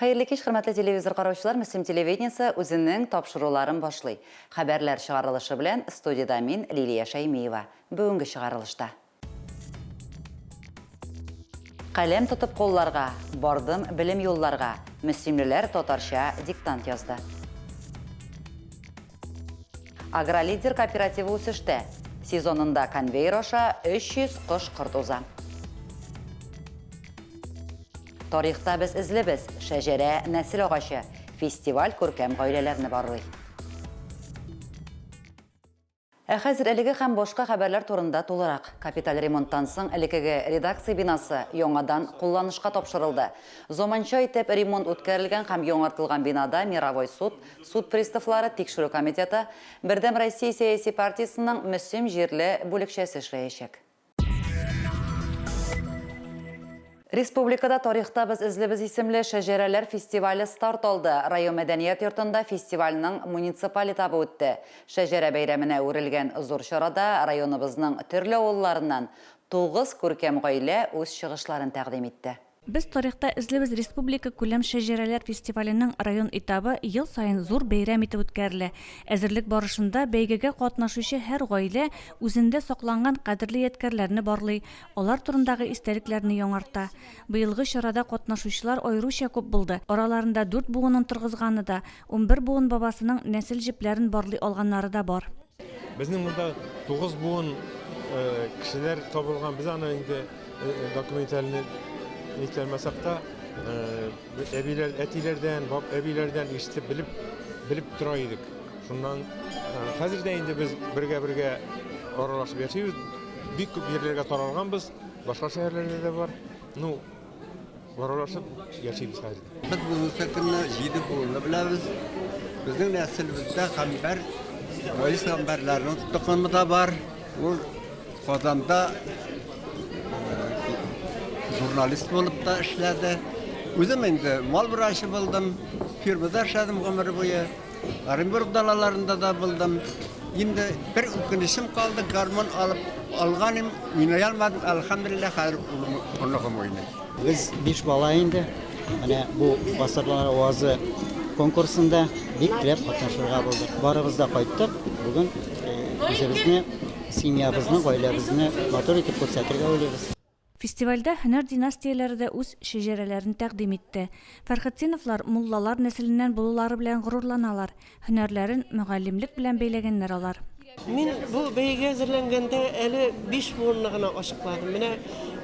Хәерле кич, хөрмәтле телевизор караучылар, Мөслим телевидениесе үзенең тапшыруларын башлый. Хәбәрләр чыгарылышы белән студиядә мин, Лилия Шәймиева. Бүгенге чыгарылышта. Каләм тотып колларга, бардым белем юлларга, мөслимлеләр татарча диктант язды. Агролидер кооперативы үсештә. Сезонында конвейер аша 300 кош-корт уза. Тарихта без эзлебез, шәҗәрә нәсел агачы. Фестиваль күркәм гаиләләрне барлый. Ә хәзер әлеге һәм башка хәбәрләр турында тулырак. Капиталь ремонттан соң элекеге редакция бинасы яңадан кулланышка тапшырылды. Заманча итеп ремонт үткәрелгән һәм яңартылган бинада мировой суд, Суд приставлары тикшерү комитеты, Бердәм Россия сәяси партиясенең Мөслим җирле бүлекчәсе эшләячәк. Республикада Тарихта без эзлибез исемле шәҗәрәләр фестивале старт алды. Район мәдәният йортында фестивальнең муниципаль этабы үтте. Шәҗәрә бәйрәменә әверелгән зур чарада районыбызның төрле авылларыннан тугыз күркәм гаилә үз чыгышларын тәкъдим итте. Без тарихта эзлибез Республикакүләм шәҗәрәләр фестиваленең район этабы ел саен зур бәйрәм итеп үткәрелә. Әзерлек барышында бәйгегә катнашучы һәр гаилә үзендә сакланган кадерле ядкәрләрне барлый, алар турындагы истәлекләрне яңарта. Быелгы чарада катнашучылар аеруча күп булды, араларында дүрт буынын торгызганы да, Унбер буын бабасының нәсел җепләрен барлый алганнары да бар. Безнең монда тугыз буын кешеләр табылган. Без аны инде документальный нитәлмәсәк тә, әбиләр, әтиләрдән, баб әбиләрдән ишетеп белеп белеп тора идек. Шуннан хәзер дә инде без бергә-бергә аралашып яшибез. Бик күп җирләргә таралганбыз, башка шәһәрләрдә дә бар. Ну, Аралашып яшибез хәзер. Без бүгенге көнне җиде буынны беләбез. Безнең нәселебездә Камбар, Раис Камбарларның токымы да бар. Ул Казанда э, журналист булып та эшләде. Үзем инде мал врачы булдым, фирмада эшләдем гомер буе. Оренбург далаларында да булдым. Инде бер үкенечем калды, гармон алып алганым, уйный алмадым. Әлхәмдулиллаһ, хәзер улым, оныгым уйный. Без биш бала инде. Менә бу Басырлар авазы конкурсында бик теләп катнашырга булдык. Барыбыз да кайттык. Бүген үзебезне, семьябызны, гаиләбезне матур итеп күрсәтергә уйлыйбыз. Фестивальдә һөнәр династияләре дә үз шәҗәрәләрен тәкъдим итте. Фәрхетдиновлар муллалар нәселеннән булулары белән горурланалар, һөнәрләрен мөгаллимлек белән бәйләгәннәр алар. Мин бу бәйгегә әзерләнгәндә әле биш буынны гына ачыкладым. Менә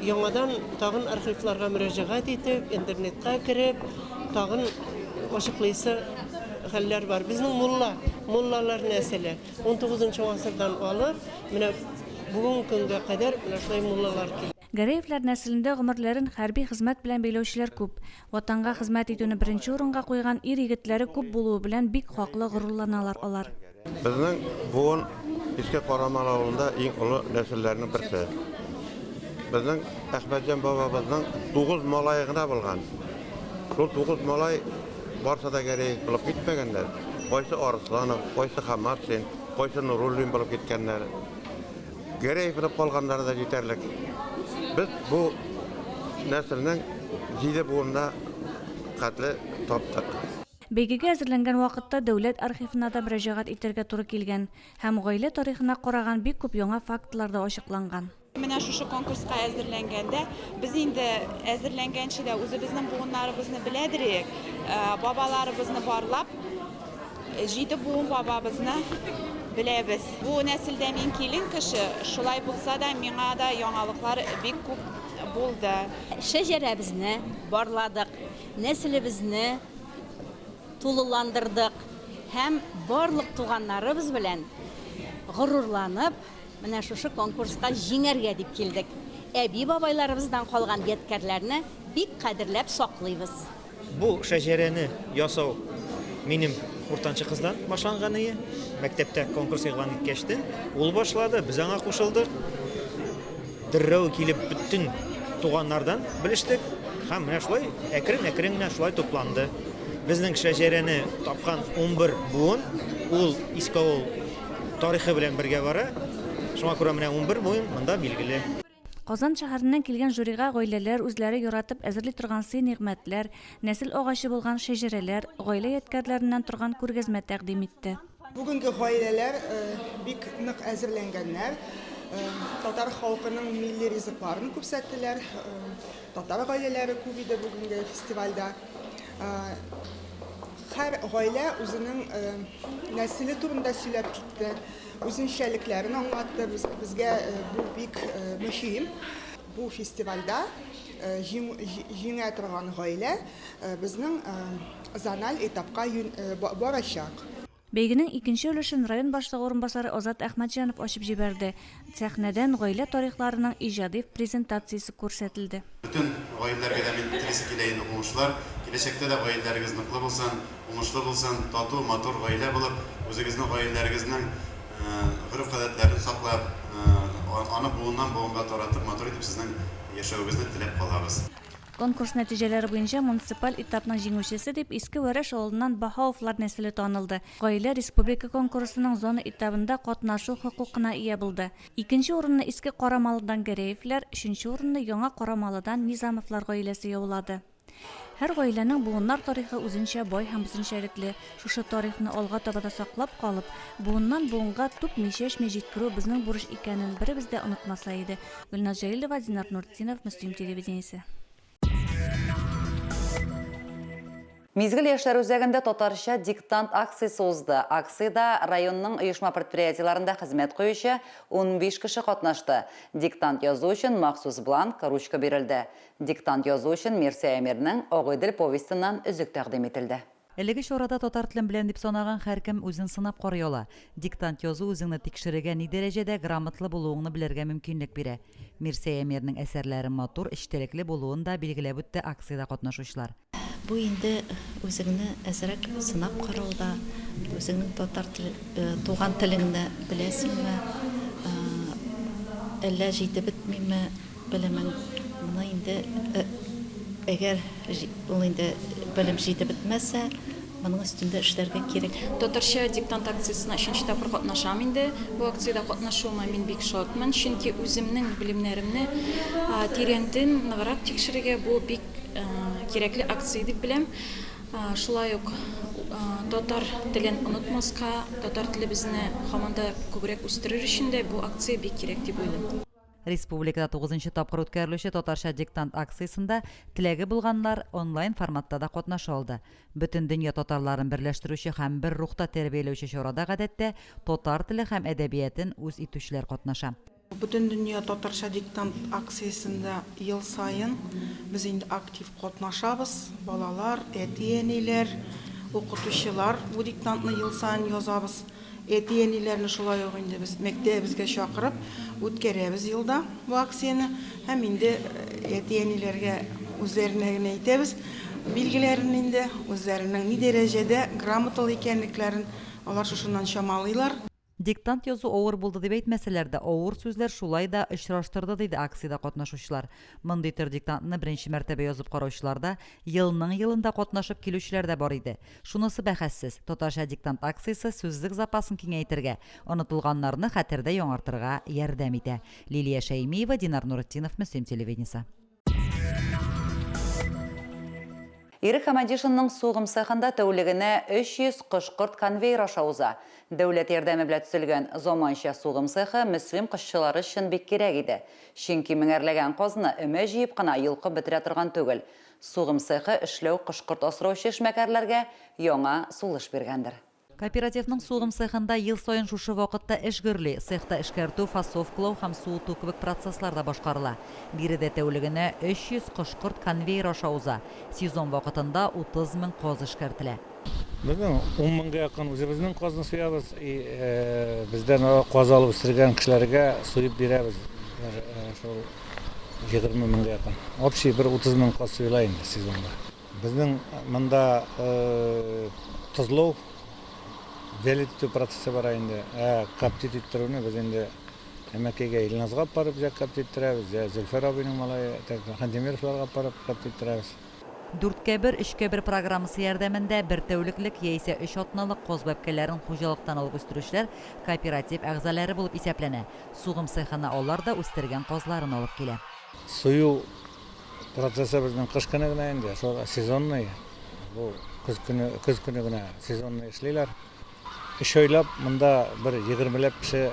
яңадан тагын архивларга мөрәҗәгать итеп, интернетка кереп, тагын ачыклыйсы хәлләр бар. Безнең мулла, муллалар нәселе. 19 нчы гасырдан алып, менә бүгенге көнгә кадәр менә шулай муллалар килә. Гәрәевләр нәселендә гомерләрен хәрби хезмәт белән бәйләүчеләр күп. Ватанга хезмәт итүне беренче урынга куйган ир-егетләре күп булуы белән бик хаклы горурланалар алар. Безнең буын Иске Карамал авылында иң олы нәселләрнең берсе. Безнең Әхмәтҗан бабабызның тугыз малае гына булган. Шул тугыз малай. Барсы да гәрәй булып китмәгәннәр. Кайсы Арысланов, кайсы Хаматшин, кайсы Нуруллин булып киткәннәр. Гәрәй булып калганнары да җитәрлек. Без бу нәселнең җиде буынына хәтле таптык. Бәйгегә әзерләнгән вакытта дәүләт архивына да мөрәҗәгать итәргә туры килгән һәм гаилә тарихына караган бик күп яңа фактлар да ачыкланган. Менә шушы конкурска әзерләнгәндә без инде әзерләнгәнче дә үзебезнең буыннарыбызны беләдер идек. Э, бабаларыбызны барлап, җиде буын бабабызны беләбез. Бу нәселдә мин килен кеше, шулай булса да миңа да яңалыклар бик күп булды. Шәҗәрәбезне барладык, нәселебезне тулыландырдык һәм барлык туганнарыбыз белән горурланып, Менә шушы конкурска җиңәргә дип килдек. Әби-бабайларыбыздан калган ядкәрләрне бик кадерләп саклыйбыз. Бу шәҗәрәне ясау минем уртанчы кыздан башланганые. Мәктәптә конкурс игълан иткәч тә, ул башлады, без аңа кушылдык. Деррәү килеп бөтен туганнардан белештек һәм менә шулай әкрен-әкрен генә шулай тупланды. Безнең шәҗәрәне тапкан унбер буын, ул Искавыл Тарихы белән бергә бара. Шуңа күрә менә унбер буын монда билгеле. Казан шәһәреннән килгән жюрига гаиләләр үзләре яратып әзерли торган сый-нигъмәтләр, нәсел агачы булган шәҗәрәләр, гаилә ядкярләреннән торган күргәзмә тәкъдим итте. Бүгенге гаиләләр бик нык әзерләнгәннәр. Татар халкының милли ризыкларын күрсәттеләр. Татар гаиләләре күп иде бүгенге фестивальдә. Һәр гаилә үзенең нәселе турында сөйләп китте, үзенчәлекләрен аңлатты. Безгә бу бик мөһим. Бу фестивальдә җиңә торган гаилә безнең зональ этапка барачак. Бәйгенең икенче өлешен район башлыгы урынбасары Азат Әхмәтҗанов ачып җибәрде. Сәхнәдән гаилә тарихларының иҗади презентациясе күрсәтелде. Бөтен гаиләләргә дә мин телисе килә инде уңышлар. Киләчәктә дә гаиләләрегез ныклы булсын, уңышлы булсын, тату, матур гаилә булып, үзегезнең гаиләләрегезнең гореф-гадәтләрен саклап, аны буыннан буынга таратып, матур итеп сезнең яшәвегезне теләп калабыз. Конкурс нәтиҗәләре буенча муниципаль этапның җиңүчесе дип Иске Вәрәш авылыннан Баһауовлар нәселе танылды. Гаилә республика конкурсының зона этабында катнашу хокукына ия булды. Икенче урынны Иске Карамалыдан Гәрәевләр, өченче урынны Яңа Карамалыдан Низамовлар гаиләсе яулады. Һәр гаиләнең буыннар тарихы үзенчә бай һәм үзенчәлекле. Шушы тарихны алга таба да саклап калып, буыннан-буынга түкми-чәчми җиткерү безнең бурыч икәнен беребез дә онытмаса иде. Гөлназ Җәлилова, Динар Нуртдинов, Мөслим телевидениесе. Мизгел яшьләр үзәгендә татарча диктант акциясе узды. Акциядә районның оешма-предприятиеләрендә хезмәт куючы унбиш кеше катнашты. Диктант язу өчен махсус бланк, ручка бирелде. Диктант язу өчен Мирсәя Мирнең Агыйдел повестеннан өзек тәкъдим ителде. Әлеге чарада татар телен беләм дип санаган һәркем үзен сынап карый ала. Диктант язу үзеңне тикшерергә, ни дәрәҗәдә грамотлы булуыңны белергә мөмкинлек бирә. Мирсәй Әмирнең әсәрләре матур, эчтәлекле булуын да билгеләп үтте акциядә катнашучылар. Бу инде үзеңне әзрәк сынап карауда, үзеңнең татар тел, туган телеңне беләсеңме, әллә җитеп бетмиме, Белемен моны инде әгәр ул инде белем җитеп бетмәсә, моның өстендә эшләргә кирәк. Татарча диктант акциясенә өченче тапкыр катнашам инде. Бу акциядә катнашуыма мин бик шатмын, чөнки үземнең белемнәремне тирәнтен ныграк тикшерергә бу бик кирәкле акция дип беләм. Шулай ук татар телен онытмаска, татар телебезне һаман да күбрәк үстерер өчен дә бу акция бик кирәк дип уйлыйм. Республикада тугызынчы тапкыр үткәрелүче Татарча диктант акциясендә теләге булганнар онлайн форматта да катнаша алды. Бөтендөнья татарларын берләштерүче һәм бер рухта тәрбияләүче чарада гадәттә татар теле һәм әдәбиятен үз итүчеләр катнаша. Бөтендөнья татарча диктант акциясендә ел саен без инде актив Катнашабыз, балалар, әти-әниләр, укытучылар. Бу диктантны ел саен язабыз. Әти-әниләрне шулай ук инде без мәктәбебезгә чакырып үткәрәбез елда бу акцияне. Һәм инде әти-әниләргә үзләренә генә әйтәбез билгеләрен инде, үзләренең ни дәрәҗәдә грамоталы икәнлекләрен алар шушыннан чамалыйлар. Диктант язу авыр булды дип әйтмәсәләр дә, авыр сүзләр шулай да очраштырды, диде акциядә катнашучылар. Мондый төр диктантны беренче мәртәбә язып караучылар да, елның-елында катнашып килүчеләр дә бар иде. Шунысы бәхәссез, татарча диктант акциясе сүзлек запасын киңәйтергә, онытылганнарны хәтердә яңартырга ярдәм итә. Лилия Шәймиева, Динар Нуретдинов, Мөслим телевидениесе. Ирек Хәмәдишинның сугым цехында тәүлегенә 300 кош-корт конвейер аша уза. Дәүләт ярдәме белә төзелгән заманча сугым цехы мөслим кошчылары өчен бик кирәк иде. Чөнки меңәрләгән казны өмә җыеп кына йолкып бетерә торган түгел. Сугым цехы эшләү кош-корт асраучы эшмәкәрләргә яңа сулыш биргәндер. Кооперативның сугым цехында ел саен шушы вакытта эш гөрли, цехта эшкәртү, фасовкалау һәм суыту кебек процесслар да башкарыла. Биредә тәүлегенә 300 кош-корт конвейер аша уза, сезон вакытында 30 мең каз эшкәртелә. Безнең ун меңгә якын үзебезнең казны суябыз, и бездән каз алып үстергән кешеләргә суеп бирәбез, шул егерме меңгә якын. Общий бер 30 мең каз суела инде сезонда. Безнең монда тозлау, вялить итү процессы бара инде. Ә коптить иттерүне без инде әмәкәйгә Илназга алып барып, җә коптить иттерәбез, җә Зөлфәр абыйның малае Хантимировларга алып барып коптить иттерәбез. Дүрткә бер, өчкә бер программасы ярдәмендә бер тәүлеклек яисә өч атналык каз бәбкәләрен хуҗалыктан алып үстерүчеләр кооператив әгъзаләре булып исәпләнә. Сугым цехына алар да үстергән казларын алып килә. Сою Процессы безнең кыш көне генә инде, шул сезонный. Бу көз көне, көз көне генә сезонный эшлиләр. Өч айлап монда бер егермеләп кеше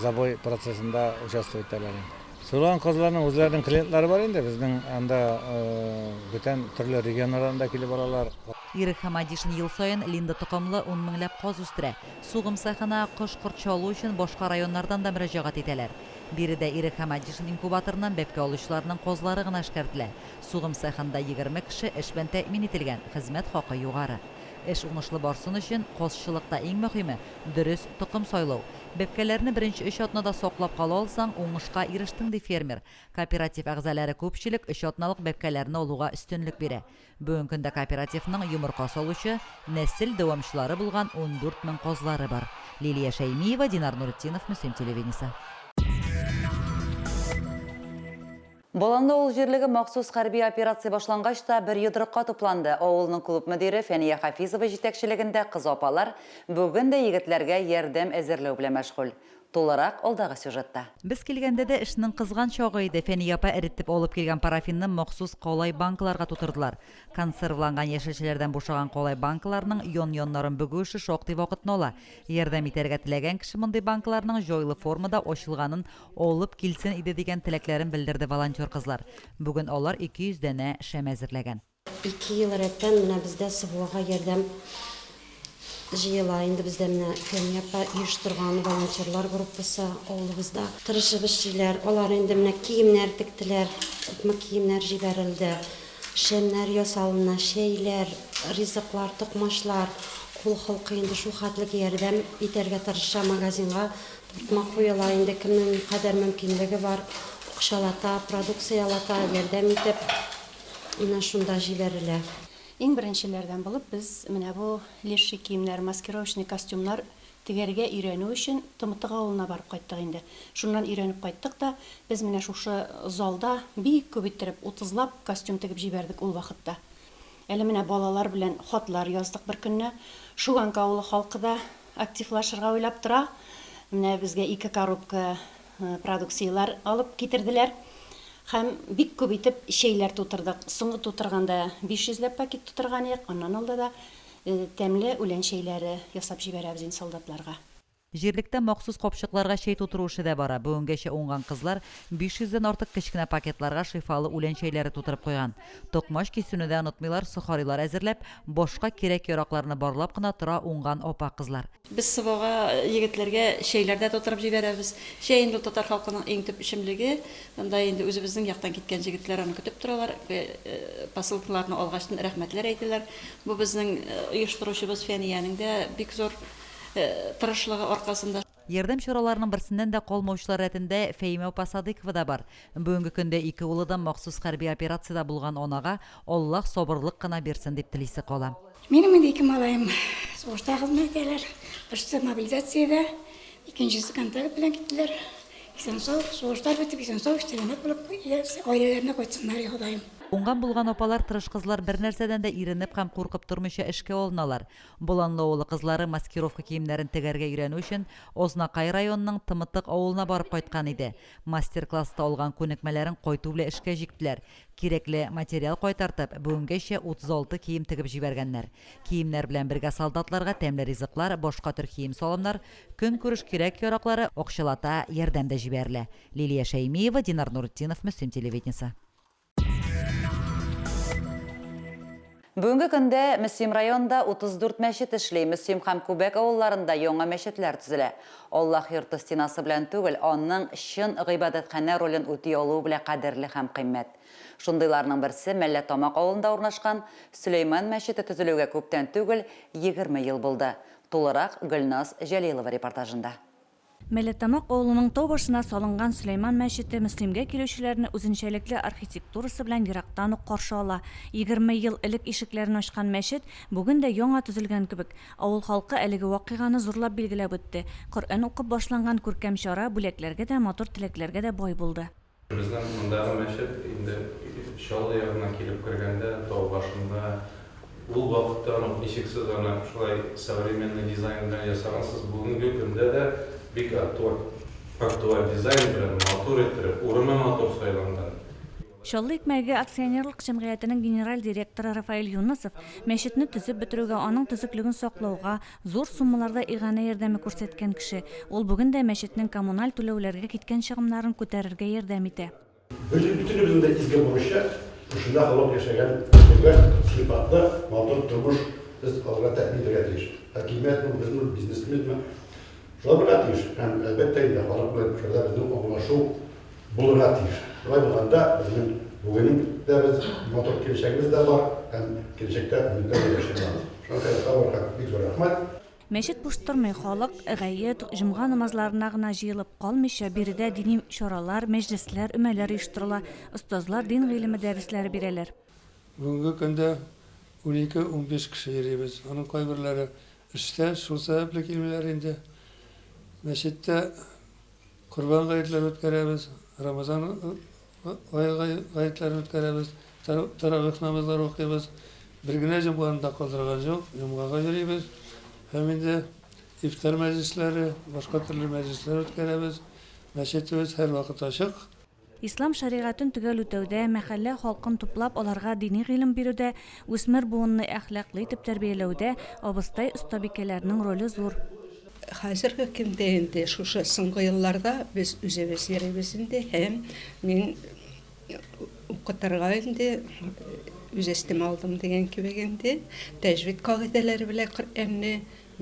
забой процессында участвовать итәләр инде. Сулган казларның үзләренең клиентлары бар инде, безнең анда бүтән төрле регионнардан да килеп алалар. Ирек Хамадишин ел саен Линда токымлы ун меңләп каз үстерә. Сугым цехына кош-корт чалу өчен башка районнардан да мөрәҗәгать итәләр. Биредә Ирек һәм Адишин инкубаторыннан бәбкә алучыларның казлары гына эшкәртелә. Сугым цехында егерме кеше эш белән тәэмин ителгән, хезмәт хакы югары. Эш уңышлы барсын өчен, казчылыкта иң мөһиме, дөрес токым сайлау. Бәбкәләрне беренче өч атнада саклап кала алсаң, уңышка ирештең, ди фермер. Кооператив әгъзалары күпчелек өч атналык бәбкәләрне алуга өстенлек бирә. Бүгенге көндә кооперативның йомырка салучы, нәсел дәвамчылары булган ундүрт мең казлары бар. Лилия Шәймиева, Динар Нуретдинов, Мөслим телевидениесе. Боланлы авыл җирлеге махсус хәрби операция башлангач та, бер йодрыкка тупланды. Авылның клуб мөдире Фәния Хафизова җитәкчелегендә кыз апалар бүген дә егетләргә ярдәм әзерләү белән мәшгуль. Тулырак алдагы сюжетта. Без килгәндә дә эшнең кызган чагы иде, Фәния апа эретеп алып килгән парафинны махсус калай банкаларга тутырдылар. Консервланган яшелчәләрдән бушаган калай банкаларның ян-яннарын бөгү эше шактый вакытны ала. Ярдәм итәргә теләгән кеше мондый банкаларның җайлы формада ачылганын алып килсен иде дигән теләкләрен белдерде волонтер кызлар. Бүген алар ике йөз данә шәм әзерләгән. Ике ел рәттән менә бездә СВОга ярдәм җыела. Инде бездә менә Фәния апа оештырган волонтерлар группасы авылыбызда тырышып эшлиләр. Алар инде менә киемнәр тектеләр, күпме киемнәр җибәрелде. Шәмнәр ясалына, чәйләр, ризыклар, токмачлар. Кул холкы инде шул хәтлек ярдәм итәргә тырыша. Магазинга тартма куела, инде кемнең никадәр мөмкинлеге бар, акчалата, продукциялата ярдәм итеп. Менә шунда җибәрелә. Иң беренчеләрдән булып без менә бу леший киемнәр, маскировочный костюмнар тегәргә өйрәнү өчен Тымытык авылына барып кайттык инде. Шуннан өйрәнеп кайттык та, без менә шушы залда бик күп иттереп, утызлап костюм тегеп җибәрдек ул вакытта. Әле менә балалар белән хатлар яздык беркөнне. Шуганка авылы халкы да активлашырга уйлап тора. Менә безгә ике коробка продукцияләр алып китерделәр һәм бик күп итеп чәйләр тутырдык. Соңгы тутырганда 500 ләп пакет тутырган идек, аннан алда да тәмле үлән чәйләре ясап җибәрәбез инде солдатларга. Җирлектә махсус капчыкларга чәй тутыру эше дә бара. Бүгенгәчә уңган кызлар 500 дән артык кечкенә пакетларга шифалы үлән чәйләре тутырып куйган. Токмач кисүне дә онытмыйлар, сохарилар әзерләп, башка кирәк-яракларны барлап кына тора уңган апа-кызлар. Без Сывага егетләргә чәйләр дә тутырып җибәрәбез. Чәй инде ул татар халкының иң төп эчемлеге. Анда инде үзебезнең яктан киткән җегетләр аны көтеп торалар. Посылкаларны алгач, рәхмәтләр әйтәләр. Бу безнең оештыручыбыз Фәниянең дә бик зур тырышлыгы аркасында. Ярдәм чараларының берсеннән дә калмаучылар рәтендә Фәимә апа Садыйкова да бар. Бүгенге көндә ике улы да махсус хәрби операциядә булган анага Аллаһ сабырлык кына бирсен дип телисе кала. Минем инде ике малаем сугышта хезмәт итәләр. Берсе мобилизациядә, икенчесе контракт белән киттеләр. Исән-сау, сугышлар бетеп, исән-сау, сәламәт булып, гаиләләренә кайтсыннар, Ходаем. Уңган-булган апалар, тырыш кызлар бернәрсәдән дә иренеп һәм куркып тормыйча эшкә алыналар. Боланлы авылы кызлары маскировка киемнәрен тегәргә өйрәнү өчен Азнакай районының Тымытык авылына барып кайткан иде. Мастер-класста алган күнекмәләрен кайту белән эшкә җиктеләр. Кирәкле материал кайтартып, бүгенгәчә 36 кием тегеп җибәргәннәр. Киемнәр белән бергә солдатларга тәмле ризыклар, башка төр кием-салымнар, көнкүреш кирәк-яраклары акчалата ярдәм дә җибәрелә. Лилия Шәймиева, Динар Нуретдинов, Мөслим телевидениесе. Бүгенге көндә Мөслим районында 34 мәчет эшли, Мөслим һәм Күбәк авылларында яңа мәчетләр төзелә. Аллаһ йорты стенасы белән түгел, аның чын гыйбадәтханә ролен үти алуы белә кадерле һәм кыйммәт. Шундыйларның берсе Мәлләтамак авылында урнашкан Сөләйман мәчете төзелүгә күптән түгел, егерме ел булды. Тулырак Гөлназ Җәлилова репортажында. Мәләттамак авылының тау башына салынган Сөләйман мәчете Мөслимгә килүчеләрне үзенчәлекле архитектурасы белән ерактан ук каршы ала. Егерме ел элек ишекләрен ачкан мәчет бүген дә яңа төзелгән кебек. Авыл халкы әлеге вакыйганы зурлап билгеләп үтте. Коръән укып башланган күркәм чара бүләкләргә дә, матур теләкләргә дә бай булды. Безнең мондагы мәчет инде Чаллы ягыннан килеп кергәндә, тау башында, ул вакыттан ук ничексез аны шулай современный дизайн белән ясагансыз, бүгенге көндә дә бик актуаль дизайн белән матур иттереп, урыны матур сайланган. Чаллы икмәге акционерлык җәмгыятенең генераль директоры Рафаэль Юнысов, мәчетне төзеп бетерүгә, аның төзеклеген саклауга, Зур суммаларда иганә ярдәме күрсәткән кеше. Ул бүген дә мәчетнең коммуналь түләүләргә киткән чыгымнарын күтәрергә ярдәм итә. Без бөтенебезнең дә изге бурычы, шушында һаман яшәгән кешегә сыйфатлы, матур тормыш без алырга тәэмин итәргә тиеш. Хакимиятме, безме ул, бизнесменме, шулай булырга тиеш. Һәм, әлбәттә инде, халык белән шулай безнең аңлашу. Булырга тиеш. Болай булганда безнең бүгенең дә без матур киләчәгебез дә бар һәм киләчәктә өметләр белән яши алабыз. Шуңа күрә Сабурга бик зур рәхмәт. Мәчет буш тормый, халык гает, җомга намазларына гына җыелып калмыйча, биредә дини чаралар, мәҗлесләр, өмәләр оештырыла, остазлар дин гыйлеме дәресләре бирәләр. Бүгенге көндә унике-унбиш кеше йөрибез. Аның кайберләре эштә, шул сәбәпле килмиләр инде. Мәчеттә Корбан гаетләрен үткәрәбез, Рамазан ае гаетләрен үткәрәбез, Тәравих намазлары укыйбыз. Бер генә җомганы да калдырган җук, җомгага йөрибез. Һәм инде ифтар мәҗлесләре, башка төрле мәҗлесләр үткәрәбез. Мәчетебез һәрвакыт ачык. Ислам шәригатен төгәл үтәүдә, мәхәллә халкын туплап, аларга дини гыйлем бирүдә, үсмер буынны әхлаклы итеп тәрбияләүдә абыстай-остабикәләрнең роле зур. Хәзерге көндә инде шушы соңгы елларда без үзебез йөрибез инде һәм мин укытырга инде үз өстемә алдым дигән кебек инде, тәҗвид кагыйдәләре белән Коръәнне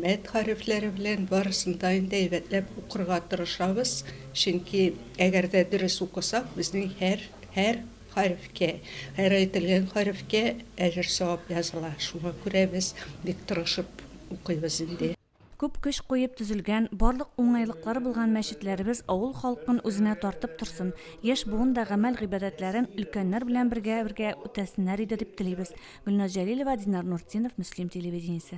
Мәет хәрефләре белән барысын да инде әйбәтләп укырга тырышабыз, чөнки әгәр дә дөрес укысак, безнең һәр һәр хәрефкә, һәр әйтелгән хәрефкә әҗер-савап языла. Шуңа күрә без бик тырышып укыйбыз инде. Күп көч куеп төзелгән, барлык уңайлыклары булган мәчетләребез авыл халкын үзенә тартып торсын, яшь буын да гамәл-гыйбадәтләрен өлкәннәр белән бергә-бергә үтәсеннәр иде дип телибез. Гөлназ Җәлилова, Динар Нуртдинов, Мөслим телевидениесе.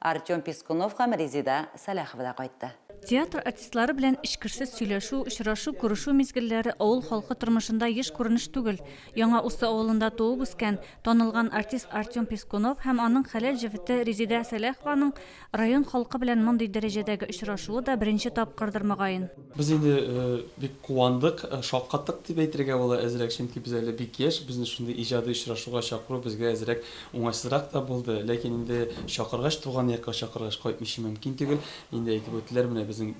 Артем Пискунов һәм Резеда Сәлахова да кайтты. Театр артистлары белән эчкерсез сөйләшү, очрашу, күрешү мизгелләре авыл халкы тормышында еш күренеш түгел. Яңа Усы авылында туып үскән, танылган артист Артем Пискунов һәм аның хәләл җефете Резеда Сәлахованың район халкы белән мондый дәрәҗәдәге очрашуы да беренче тапкырдыр, мөгаен. Без инде бик куандык, шаккаттык дип әйтергә була әзрәк, чөнки без әле бик яшь, безне шундый иҗади очрашуга чакыру безгә әзрәк уңайсызрак та булды. Ләкин инде чакыргач, туган якка чакыргач, кайтмыйча мөмкин түгел. Инде әйтеп үттеләр, менә безнең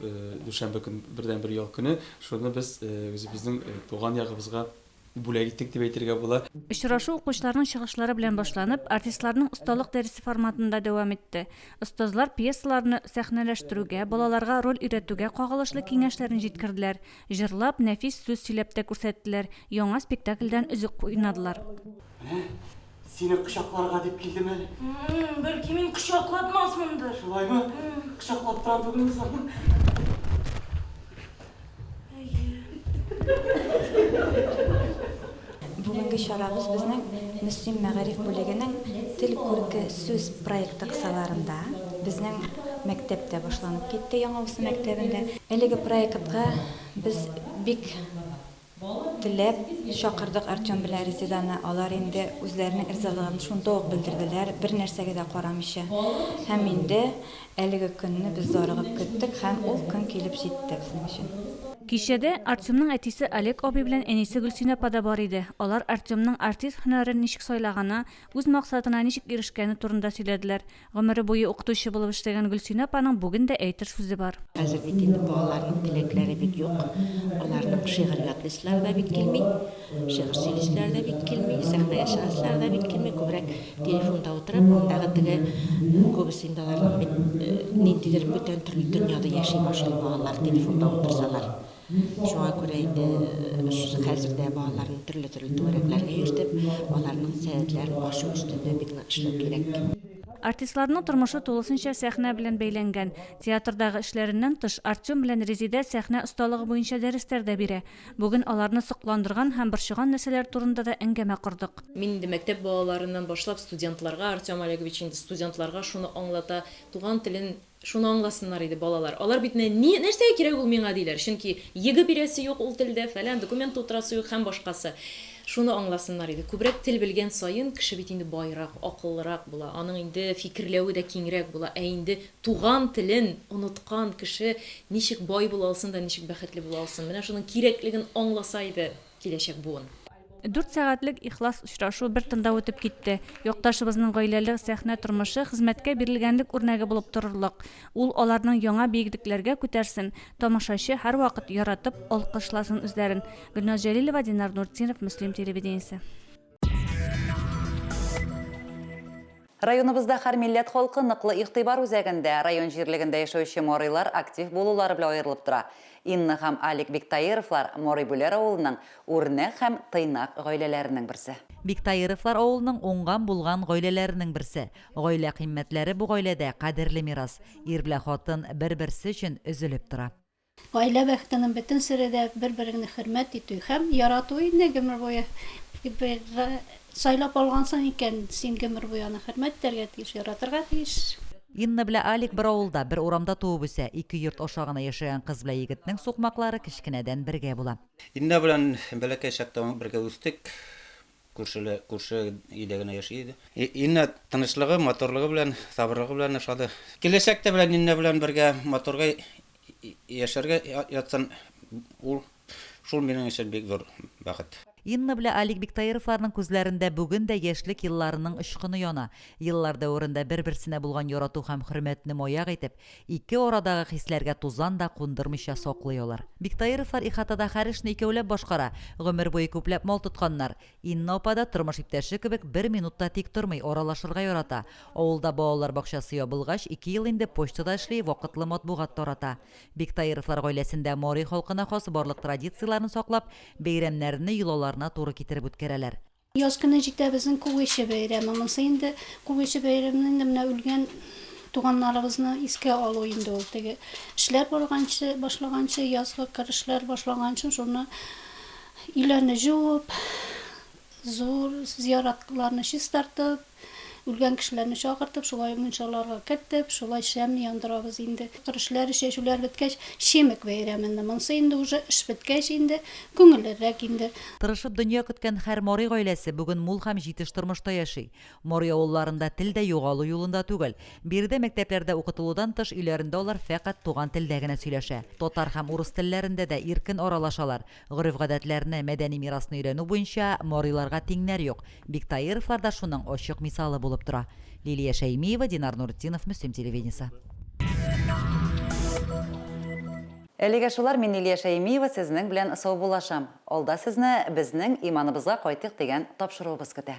дүшәмбе көн, бердәнбер ял көне, шуны без үзебезнең туган ягыбызга Бүләк иттек дип әйтергә була. Очрашу укучыларның чыгышлары белән башланып, артистларның осталык дәресе форматында дәвам итте. Остазлар пьесаларны сәхнәләштерүгә, балаларга роль өйрәтүгә кагылышлы киңәшләрен җиткерделәр, җырлап, нәфис сүз сөйләп тә күрсәттеләр, яңа спектакльдән өзек уйнадылар. Менә Сине кочакларга дип килдем әле. Бәлки мин кочакладмасмындыр. Шулаймы? Кочаклап торам түгел соң. Бүгенге чарабыз безнең Мөслим мәгариф бүлегенең Тел күрке сүз проекты кысаларында безнең мәктәптә башланып китте, Яңавысы мәктәбендә. Әлеге проектка без бик Теләп чакырдык Артем белән Резеданы, алар инде үзләренең ризалыгын шунда ук белдерделәр, бернәрсәгә дә карамыйча. Һәм инде әлеге көнне без зарыгып көттек һәм ул көн килеп җитте безнең өчен. Кичәдә Артемның әтисе Олег абый белән әнисе Гөлсинә апа да бар иде, алар Артемның артист һөнәрен ничек сайлаганы, үз максатына ничек ирешкәне турында сөйләделәр, Гомере буе укытучы булып эшләгән Гөлсинә апаның бүген дә әйтер сүзе бар. Хәзер бит инде балаларның теләкләре бик юк. Аларның шигырь ятлыйсылары да бик килми, шигырь сөйлисиләре дә бик килми, сәхнәгә чыгасылары да бик килми, күбрәк телефонда утырып, андагы теге, күбесе инде аларның бит ниндидер бүтән төрле дөньяда яши башлый балалар телефонда утырсалар. Шуңа күрә инде хәзер дә балаларны төрле-төрле түгәрәкләргә йөртеп, аларның сәләтләрен ачу өстендә бик нык эшләү кирәк. Артистларның тормышы тулысынча сәхнә белән бәйләнгән. Театрдагы эшләреннән тыш, Артем белән Резидә сәхнә осталыгы буенча дәресләр дә бирә. Бүген аларны сокландырган һәм борчыган нәрсәләр турында да әңгәмә кордык. Мин инде мәктәп балаларыннан башлап студентларга, Артем Олегович инде студентларга шуны аңлата, туган телен Шуны аңласыннар иде балалар. Алар бит нә, ни, нәрсәгә кирәк ул миңа, диләр. Чөнки егэ бирәсе юк ул телдә, фәлән, документ тутырасы юк һәм башкасы. Шуны аңласыннар иде. Күбрәк тел белгән саен, кеше бит инде байрак, акыллырак була, аның инде фикерләве дә киңрәк була. Ә инде туган телен оныткан кеше ничек бай була алсын да ничек бәхетле була алсын? Менә шуның кирәклеген аңласа иде. Киләчәк буын. Дүрт сәгатьлек ихлас очрашу бер тында үтеп китте. Якташыбызның гаиләле сәхнә тормышы хезмәткә бирелгәнлек үрнәге булып торырлык. Ул аларның яңа биеклекләргә күтәрсен, тамашачы һәрвакыт яратып алкышласын үзләрен. Гөлназ Җәлилова, Динар Нуртдинов, Мөслим телевидениесе. Районыбызда һәр милләт халкы ныклы игътибар үзәгендә, район җирлегендә яшәүче морыйлар актив булулары белән аерылып тора. Инна һәм Алик Биктаировлар, Морый-Бүләр авылының үрнәк һәм тыйнак гаиләләренең берсе. Биктаировлар авылының уңган-булган гаиләләренең берсе. Гаилә кыйммәтләре бу гаиләдә кадерле мирас. Ир белән хатын бер-берсе өчен өзелеп тора. Гаилә бәхетенең бөтен сере дә бер-береңне хөрмәт итү һәм ярату инде гомер буе. Бер сайлап алгансың икән, син гомер буе аны хөрмәт итәргә тиеш, яратырга тиеш. Инна белә Алик бер авылда, бер урамда туып үсә. Ике йорт аша гына яшәгән кыз белә егетнең сукмаклары кечкенәдән бергә була. Инна белән бәләкәй чактан ук бергә үстек. Күршеле, күрше өйдә генә яши иде. Инна тынычлыгы, матурлыгы белән, сабырлыгы белән ошады. Киләчәктә белән Инна белән бергә матурга яшәргә ятсын ул. Шул минем өчен бик зур бәхет. Инна белә Алик Биктаировларның күзләрендә бүген дә яшьлек елларының очкыны яна. Еллар дәверендә бер-берсенә булган ярату һәм хөрмәтне маяк итеп, Ике арадагы хисләргә тузан да кундырмыйча саклый алар. Биктаировлар ихатада һәр эшне икәүләп башкара, гомер буе күпләп мал тотканнар. Инна апа да, тормыш иптәше кебек, бер минут та тик тормый, аралашырга ярата. Авылда балалар бакчасы ябылгач, ике ел инде почтада эшли, вакытлы матбугат тарата. Биктаировлар гаиләсендә Мари халкына хас барлык традицияләрне саклап, бәйрәмнәрне йолаларына туры китереп үткәрәләр. Яз көне җитә безнең Күгече бәйрәме. Монсы инде Күгече бәйрәмене инде менә үлгән туганнарыбызны искә алу инде ул. Теге эшләр барганчы, башлаганчы, язгы кыр эшләр башлаганчы шуны өйләрне җуып, зур зыяратларны чистартып, Үлгән кешеләрне чакыртып, шулай мунчаларга кертеп, шулай шәмне яндырабыз инде. Керешләр, чәчүләр беткәч, Чемек бәйрәменде. Монсы инде уже эш беткәч инде, күңеллерәк инде. Тырышып дөнья көткән хәр Мари гаиләсе бүген мул һәм җитеш тормышта яши. Мари авылларында тел дә югалу юлында түгел. Биредә мәктәпләрдә укытылудан тыш өйләрендә алар фәкать туган телдә генә сөйләшә. Татар һәм урыс телләрендә дә иркен аралашалар. Гореф-гадәтләрне, мәдәни мирасны өйрәнү буенча мариларга тиңнәр юк. Биктаировлар да шуның ачык мисалы булып тора. Лилия Шәймиева, Динар Нуретдинов, Мөслим телевидениесе. Әлегә шулар, мин Лилия Шәймиева сезнең белән саубуллашам. Алда сезне Безнең иманыбызга кайтыйк дигән тапшыруыбыз көтә.